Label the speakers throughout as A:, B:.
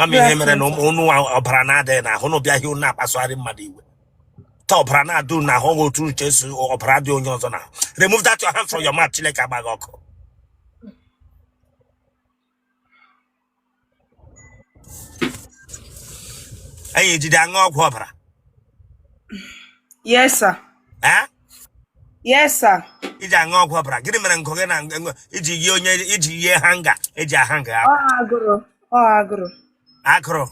A: a ma m ihe mere na ụnụ ọbara na-adịghị na ahụ ụnụ abịa ụnụ na-akpasụgharị mmadụ iwe otu ọbara na-adị ụnụ ahụ wụ otu ụnụ che si ọbara dị onye ọzọ na remove that your hand from your mouth chineke agba gị ọkụ anyị ejide aṅụ ọgwụ ọbara
B: yes sir eh? yes sir i ji aṅụ ọgwụ
A: ọbara gịnị mere nkụ gị na enwe- iji yie onye iji yie hanga eji ahanga akwa ọ agụrụ
B: ọ agụrụ akụrụ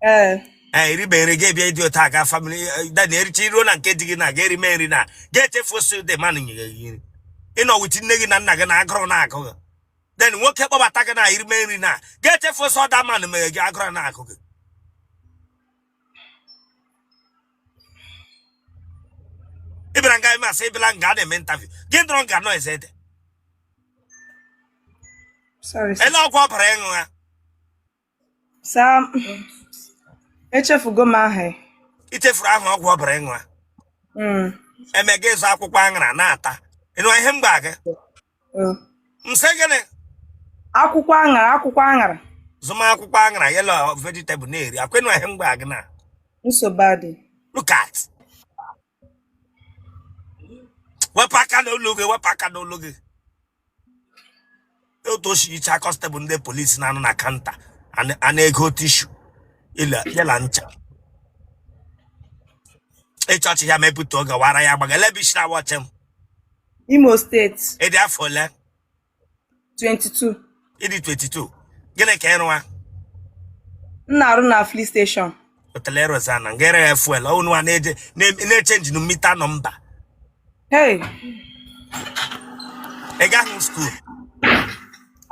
A: ee ee i ribe nri gị bịa ịdị otu a ga family dani ericha iruo na nke di gị na ga-erime nri na ga-echefu osi dị manụ nye gị nri ị nọ with nne gị na nna gị na agụrụ na akụ gị then nwoke kpọbata gị na irime nri na ga-echefu osi ọda manụ mere gị agụrụ na akụ gị ị bịara nga m sị ị bịala nga a na-eme interview gị dọrọ nga nọ eze ede
B: Sorry, sir. ele ọgwụ ọbara ị
A: ṅụgha
B: Sir, echefugo m aha ya. i
A: chefuru aha ọgwụ ọbara ị ṅụgha Mm. eme gị ịzụ akwụkwọ aṅara na-ata ị nụ ihe m gwa gị Eh. m sị
B: gịnị akwụkwọ aṅara akwụkwọ aṅara zụma
A: akwụkwọ aṅara ya la vegetable na-eri ekwe nụ ihe m gwa gị na nsogbu adị
B: look at
A: wepụ aka n'olu gị wepụ aka n'olu gị otu o si yicha constable ndị police na-anọ na counter ana- a na-ego tissue ile- ya la ncha ịchọchị ya mepụta oge wara ya gbaga elebishira watch m
B: Imo State. Ị dị afọ ole? 22. Ị dị
A: 22. Gịnị ka ị rụwa?
B: M na-arụ na filling station. Ọ teela ị
A: rụzi na nga eregha fuel ọ ụnụwa na-echenji meter number. Hey. Ị gaghị school?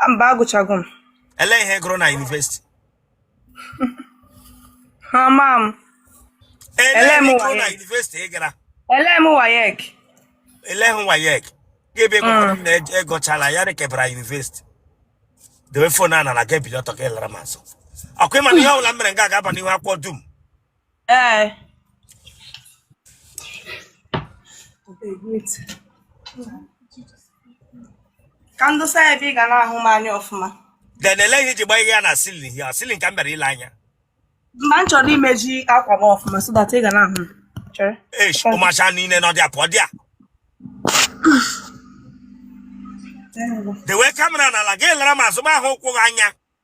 B: Mba agụchago m. Ele ihe ị gụrụ
A: na university?
B: ha ma m
A: Ele Ele m ebe ị gụrụ na WAEC. university ị gara ele m
B: WAEC
A: eleghị WAEC gị ebe gụkwara m na ej- egụchala ya rekebara university dewe phone a n'ala gị ebili ọtọ ka ị lara m azụ ọkwa ị ma na ihe ọbụla m mere nga ga-aba n'ihu akwụkwọ dum
B: Ee. Ka m dosa ya ebe ị ga na-ahụ m anya ọfụma. Then elee ihe i
A: ji gbanye ya na ceiling ya ceiling ka m bịara ile anya. Mba
B: m chọrọ imeji akwa m ọfụma so that ị ga na-ahụ m. Chere. Eish,
A: ụmacha niile nọ there pụọ there. Dewe camera n'ala gị lara m azụ m ahụ ụkwụ gị anya.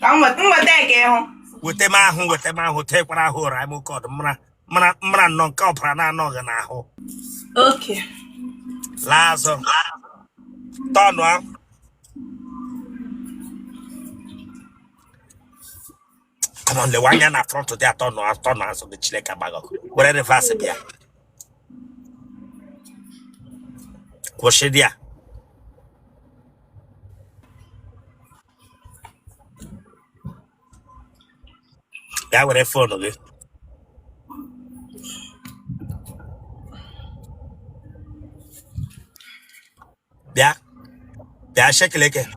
B: ka m weta m weta ya ka ị hụ weta m ahụ
A: weta m ahụ tekwara ahụ ụra m oke ọdụ mara mara mara nnọọ nke ọbara na-anọghị n'ahụ
B: okay
A: laa azụ tọnụ ahụ Come on, lewe anya na front there tọnụọ azụ gị Chileke agba gị ọkụ. Were reverse bịa. Kwụsị there. Gaa were fon gị. bịa bịa shekeleke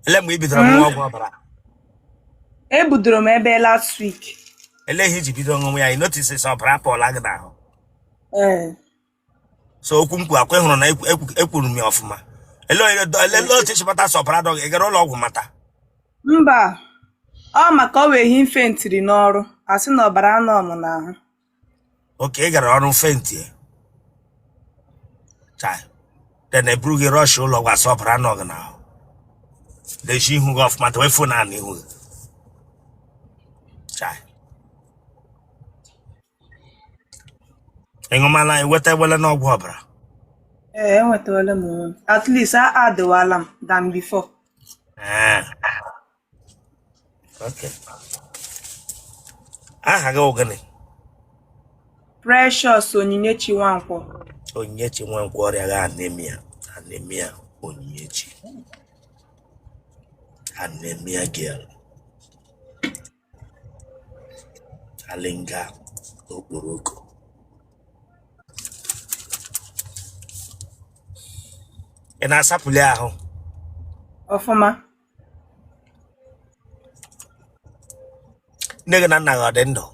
B: ele mgbe i
A: bidoro ṅụwa ọgwụ ọbara ebudoro
B: m ebe
A: last
B: week
A: ele ihe i ji bido ṅụwa ya i notis sị ọbara apụọla gị n'ahụ ee so okwu m kwuru akwa ị hụrụ na ekwu- ekwu- ekwuru m ya ọfụma ele onye do- ele ele otu chọpụta sị ọbara adịghị ị gara ụlọ ọgwụ mata mba
B: ọ maka ọ wụ ehi m fentiri n'ọrụ a sị na ọbara anọ m n'ahụ
A: okay ị gara ọrụ fenti chai then e buru gị rọsh ụlọ ọgwụ a sị ọbara anọ gị n'ahụ dezie ihu gị ọfụma dowe fon a n'ihu gị chai ị ṅụmala i nwetawala n'ọgwụ ọbara ee
B: enwetawala m onwe m at least adịwala m than before ee
A: aha gị ọ gịnị
B: Precious Onyinyechi Nwankwo Onyinyechi Nwankwo
A: ọrịa gị anemia anemia Onyinyechi anemia girl alinga okporoko ị na-asapụli ahụ ọfụma nne gị na nna gị ọ dị
B: ndụ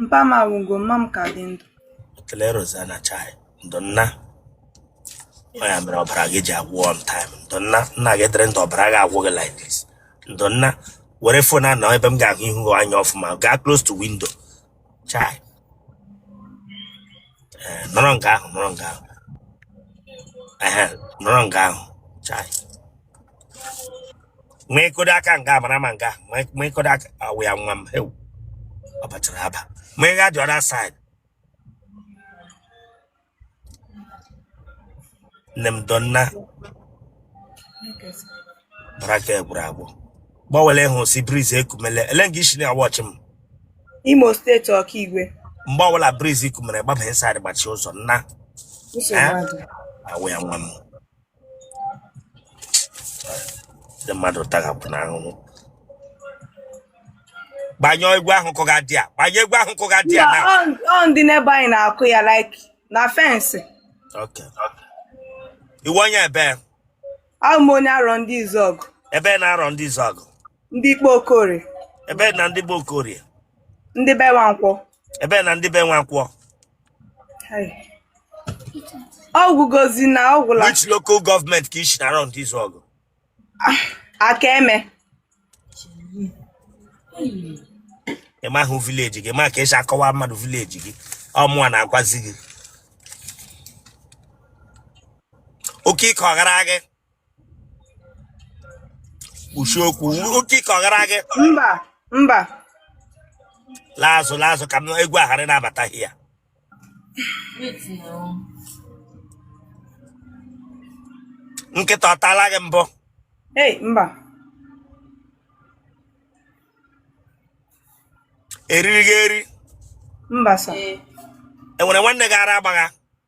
B: mpa m anwụgo mma m ka dị ndụ otele Rosanna
A: chai ndo nna ọ ya mere ọbara gị ji agwụ on time ndo nna nna gị dịrị ndụ ọbara gị agwụ gị like this ndo nna were fon a nọ ebe m ga-ahụ ihu gị anya ọfụma gaa close to window chai ee nọrọ nga ahụ nọrọ nga ahụ ehe nọrọ nga ahụ chai ma ị kụdo aka nga a mara ma nga a, ma- ma ị kụdo aka ọ wụ ya nwa m hewu ọ bachara aba ma ị gaa the other side nne m ndo nna ọbara nke a gwụrụ agwụ gbawala ị hụ sị briz ekumele ele nga i shi na-awọchị m
B: Imo steeti Okigwe mgbe ọbụla
A: briz kumere gbaba inside gbachi ụzọ nna nsogbu adị ọ wụ ya nwa m ndị mmadụ taghapụ n'ahụhụ gbanyụọ egwu ahụ kụga there gbanyụọ egwu ahụ kụga there na ọ ndị neighbor
B: anyị na-akụ ya like na fensị
A: Okay. ị wụ onye ebe a wụ
B: m onye arọndizuọgụ ebe
A: n'arọndizuọgụ ndị ikpa
B: okorie ebe na ndị
A: be okorie ndị be
B: nwankwọ ebe na ndị be
A: nwankwọ
B: ọ gwụgozi na ọ gwụla which local
A: government ka i shi n'arọndizuọgụ akeme ị mahụ vileji gị ma ka e si akọwa mmadụ vileji gị ọ mụwa na-agwazi gị oke ike ọ gara gị kwushie okwu oke ike ọ gara gị mba
B: mba laa azụ
A: laa azụ ka egwu a ghara na-abata here nkịta ọ taala gị mbụ ei mba e riri gị eri mba sa
B: e
A: nwere nwanne gị ara agbagha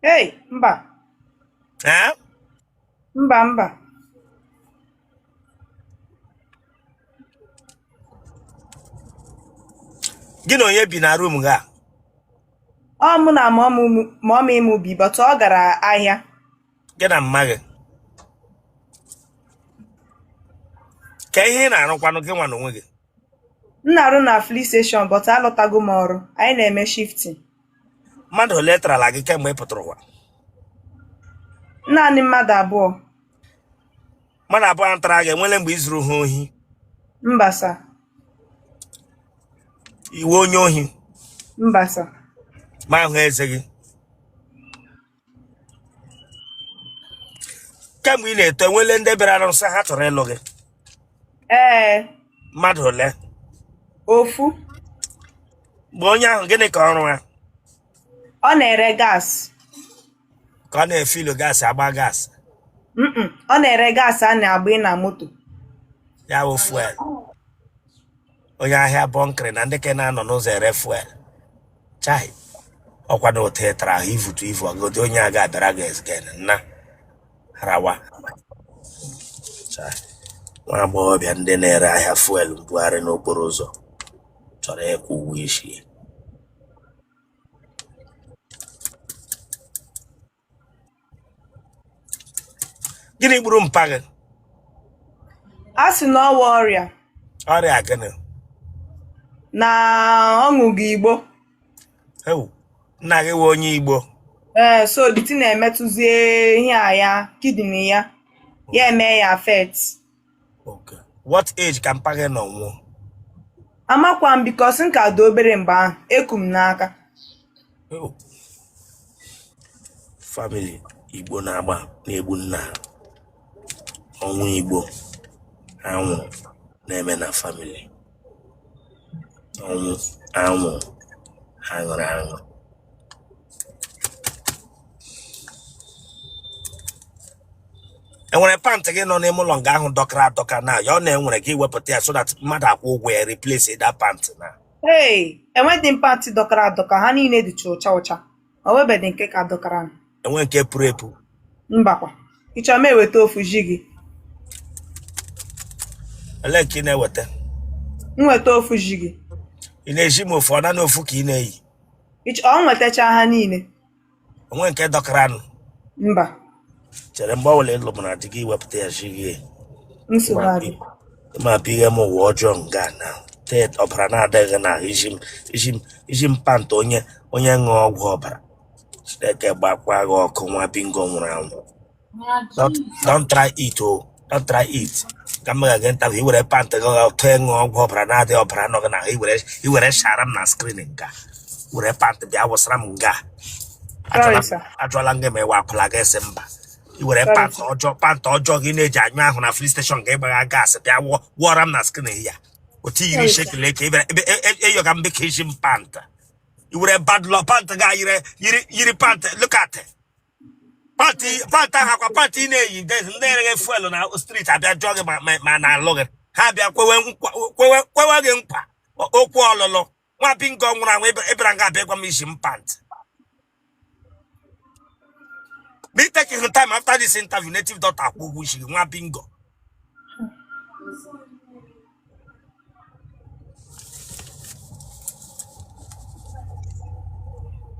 B: Hey, mba. Eh? Mba,
A: mba. Gị na onye bi na room gị
B: a? Ọ mụ na mọmị m bi, but ọ gara ahịa. Gị na
A: mma gị. Kee ihe ị na-arụkwanụ gị nwa n'onwe gị. M
B: na-arụ na filling station but alọtago m ọrụ. Anyị na-eme shifting.
A: Mmadụ ole tarala gị kemgbe ị pụtara ụwa? Naanị
B: mmadụ abụọ.
A: Mmadụ abụọ tara gị e nwele mgbe i zuru ha ohi? Mba sa. Ị wụ onye ohi? Mba sa.
B: Ma ahụ
A: eze gị? kemgbe ị na-eto e nwele ndị bịara sị ha chọrọ ịlụ gị ee mmadụ ole ofu mgbe onye ahụ gịnị ka ọ rụga
B: ọ na-ere
A: gas ka ọ na-efilu gas agba gas Mm-mm.
B: ọ na-ere gas a na-agba na moto ya wụ
A: fuel onye ahịa bunkery na ndị ke na-anọ n'ụzọ ere fuel chai ọ kwa na otu ị tara ahụ i vutu ivu ọgodi onye a ga-abịara gị again na rawa Chai, nwa agbọghọbịa ndị na-ere ahịa fuel mbugharị n'okporo ụzọ chọrọ ịkwụ ụgwọ isi ya. gịnị gburu mpa
B: gị a sị na ọ wụ ọrịa ọrịa gịnị na ọ ṅụga igbo
A: ewu nna gị wụ onye igbo ee
B: so the thing emetụzie ihe a ya kidney ya ya eme ya affect
A: Okay. What age ka mpa gị nọ nwụọ?
B: Amakwa m because m ka dị obere mgbe ahụ eku m n'aka
A: Oh. Family Igbo na-agba na-egbu nna ha. ọnwụ Igbo anwụrụ na-eme na family ọnwụ anwụrụ a ṅụrụ aṅụ enwere pant gị nọ n'ime ụlọ nga ahụ dọkara adọka na ya wụ na e nwere gị wepụta ya so that mmadụ akwụọ ụgwọ ya replace that pant na ee enweghị
B: m pant dọkara adọka ha niile dịcha ụcha ụcha o nwebeghị nke ka dọkara m. enwe nke
A: puru epu
B: mbakwa ị chọrọ m eweta ofu zi
A: gị ele nke ị na-eweta m weta
B: ofu zi gị ị na-ezi m
A: ofu ọ nanị ofu ka ị na-eyi Iche
B: ọ nwetacha ha niile. O nwe
A: nke dọkaranụ.
B: Mba. Chere mgbe
A: ọbụla ị lụbara di gị i wepụta ya zi gị. Nsogbu
B: adị. Ịma apụ ihe
A: m ụwa ọjọọ nga na tet ọbara na-adịghị na izi m pant onye onye ṅụọ ọgwụ ọbara. Chineke gbakwa gị ọkụ nwa bingo nwụrụ anwụ. Don't, don't try it o oh. don't try it ka m ga-aga nta i were pant gị ga tụọ ịṅụ ọgwụ ọbara na-adịghị ọbara nọ gị na i were i were shara m na screen nga were pant bịa wụsara m nga ajụọla m gị ma ị wụ akwụla gị asị mba i were pant ọjọọ pant ọjọọ gị na-eji anyụ ahụ na fuel station nga ị gbagha gas bịa wụọ wụọra m na screen ya o tinyiri shekele ka ị bịara ebe eyoga m dị ka izi m pant i were bad luck pant ga yiri yiri yiri pant look at it. pant pant ahụ ọkwa pant ị na-eyi des ndị ereghe fuel na street abịa jụọ gị ma- ma- ma na alụ gị ha abịa kwewe nkwa- kwewe kwewe gị nkwa o- okwu ọlụlụ nwa bingo nwụrụ anwụ ịbịa- ịbịara nga abịa gwa m izi m pant be taking your time after this interview native doctor akwụọ ụgwọ isi gị nwa bingo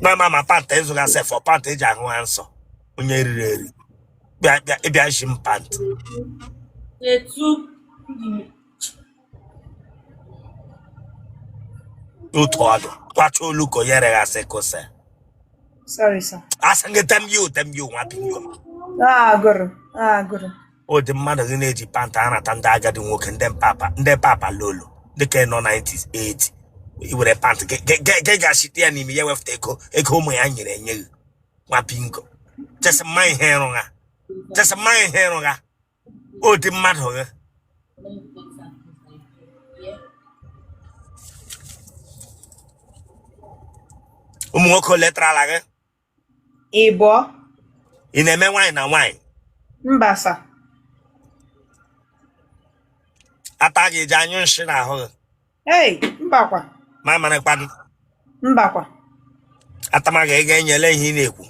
A: na-ama ma pant ị zụga sef ọ pant eji ahụ ha nsọ onye riri eri bịa bịa ịbịa shi m pant etu otu ọdụ kwacha olu ka onye reghasị kose sorry
B: sir asị gị tem yu
A: tem yu nwa bingo ah agụrụ
B: ah agụrụ
A: ụdị mmadụ gị na-eji pant anata ndị agadi nwoke ndị papa ndị papa lolo ndị ka nọ 90s 80 i were pant gị gị- gị- gị ga-achite ya n'ime ya wefụta ego ego ụmụ ya nyere enye gị nwa bingo chesị mma ihe ịrụ ha chesị mma ihe ịrụ ha ụdị mmadụ gị ụmụ nwoke ole tara ala gị ịbụọ ị na-eme nwaanyị na nwaanyị mba sir ata gị eji anyụ nshị n'ahụ gị ei mbakwa
B: ma marakwa gị
A: mbakwa atama gị ego enyela ihe ị
B: na-ekwu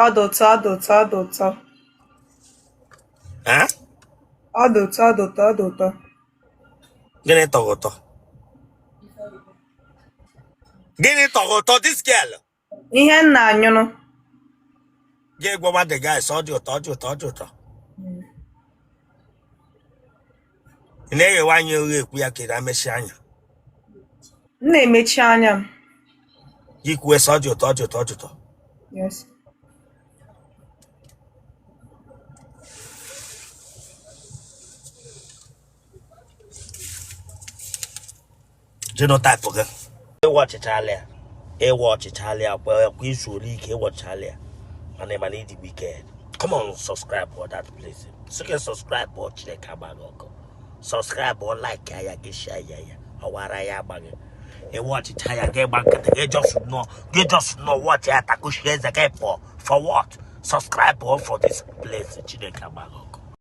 B: ọ dị ụtọ ọ dị ụtọ ọ dị ụtọ
A: Ha? ọ dị ụtọ ọ dị ụtọ ọ dị ụtọ gịnị tọ gị ụtọ gịnị tọ gị ụtọ this girl ihe nna
B: anyụrụ
A: gị gwawa the guys ọ dị ụtọ ọ dị ụtọ ọ dị ụtọ ị na-eghewe anya oghe ekwu ya ka ị na-emechi anya
B: m na-emechi anya m
A: gị kwue sị ọ dị ụtọ ọ dị ụtọ ọ dị ụtọ Yes. genotype gị ị watchịchala ya ị watchịchala ya kwa kwa i zuole ike ị watchịchala ya mana ị mana ị dị wicked come on subscribe for that place sị gị subscribe ọ chineke agba gị ọkụ subscribe like ya gị share ya ya ọwara ya agbaghị ị watchịcha ya gị gba nkịtị gị just nọ gị just nọ watch ya takushi eze gị pụọ for what subscribe for this place chineke agba gị